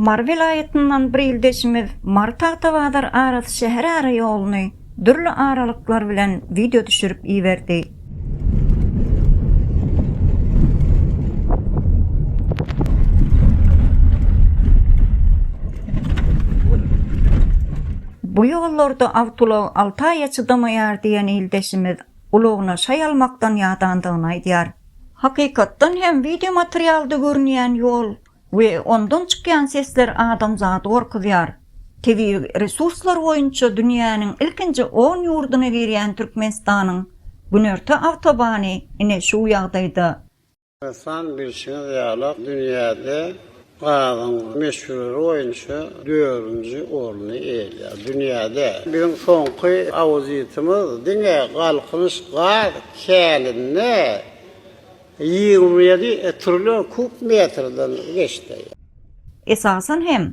Mary welaýatyndan bir ildeşimiz Mary Tagtabazar arasy şäher ara ýoluny dürli aralyklar bilen wideo düşürip iberdi. Bu ýollarda awtoulag alty aýa çydamaýar diýen ildeşimiz ulagyna şaý almakdan ýadandygyny aýdýar. Hakykatdan hem wideomaterialda görünýän ýol we ondan çykýan sesler adamzady gorkuzýar. Tebigy resurslar boýunça dünýäniň ilkinji on ýurduna girýän Türkmenistanyň günorta awtobany ine şu ýagdaýda. Ynsan, bilşiňiz ýaly, dünýäde gazyň möçberi boýunça dördünji orny eýeleýär. Dünýäde biziň soňky auditimiz diňe Galkynyş gaz käninde ýigrimi ýedi trillion kub metrden geçdi. Esasan hem,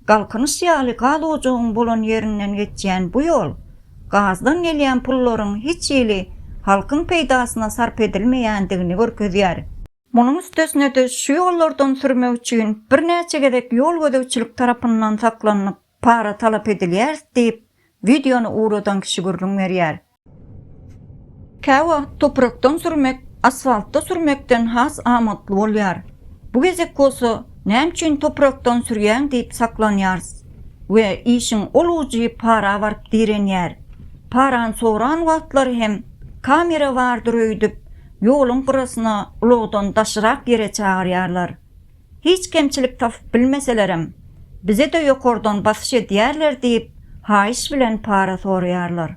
Galkynyş ýaly gaz ojagyň bolan ýerinden geçýän bu ýol gazdan gelýän pullaryň hiç hili halkyň peýdasyna sarp edilmeýändigini görkezýär. Munuň üstesine-de şu ýollardan sürmek üçin birnäçe gezek ýol gözegçilik tarapyndan saklanylyp para talap edilýäris diýip, wideony ugradan kişi gürrüň berýär. Käwagt toprakdan sürmek asfaltda sürmekden has amatly bolýar. Bu gezek bolsa näme üçin toprakdan sürýäň diýip saklanýarys we işiň ol ujy para baryp direnýär. Parany soran wagtlary hem kamera bardyr öýdüp, ýoluň gyrasyna ulagdan daşyrak ýere çagyrýarlar. Hiç kemçilik tapyp bilmeselerem, bize-de ýokardan basyş edýärler diýip, haýyş bilen para soraýarlar.